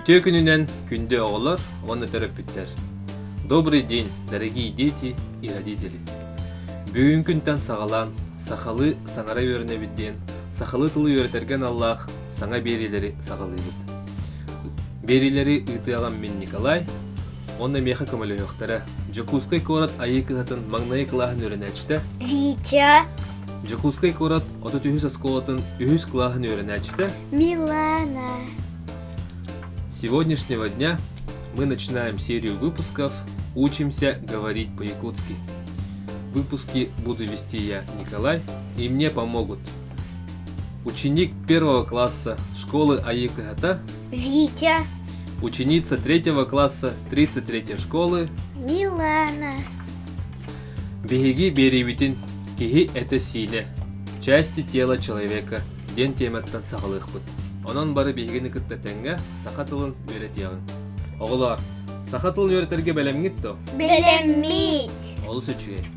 Үтүө күнүнэн күндү оҕолор уонна төрөппүттэр. Добрый день, дорогие дети и родители. Бүгүн күнтэн саҕалаан сахалыы саҥара үөрэнэбит диэн сахалыы тылы үөрэтэргэ аналлаах саҥа биэриилэри саҕалыыбыт. Биэриилэри ыытыаҕым мин Николай. Онно миэхэ көмөлөһүөхтэрэ. Дьокуускай куорат Айыы кыһатын маҥнайы кылааһын үөрэнээччитэ. Витя. Дьокуускай куорат отут үһүс оскуолатын үһүс кылааһын үөрэнээччитэ. Милана. С сегодняшнего дня мы начинаем серию выпусков «Учимся говорить по-якутски». Выпуски буду вести я, Николай, и мне помогут Ученик первого класса школы Аикыхата. Витя. Ученица третьего класса 33 школы. Милана. Биһиги биэриибитин киһи это сиилэ, части тела человека диэн тиэмэттэн саҕалыахпыт. Онон бары биһигини кытта тэҥҥэ саха тылын үөрэтиэҕиҥ. Оҕолоор, саха тылын үөрэтэргэ бэлэмҥит то? Бэлэммит. Олус үчүгэй.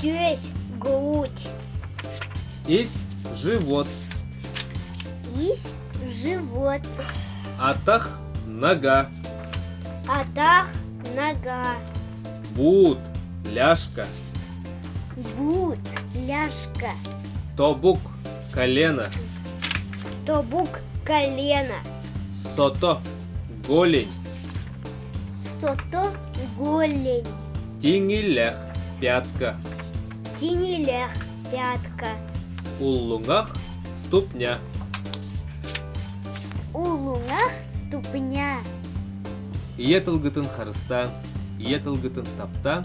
Түөс гууть. Ис живот. Ис живот. Атах нога. Атах нога. Бут ляжка. Бут ляжка. Тобук колено. Тобук колено. Сото голень. Сото голень Тиҥилэх пятка Тиҥилэх пятка Уллуҥах ступня Уллуҥах ступня Ийэ тылгытын харыстаан, ийэ тылгытын таптаан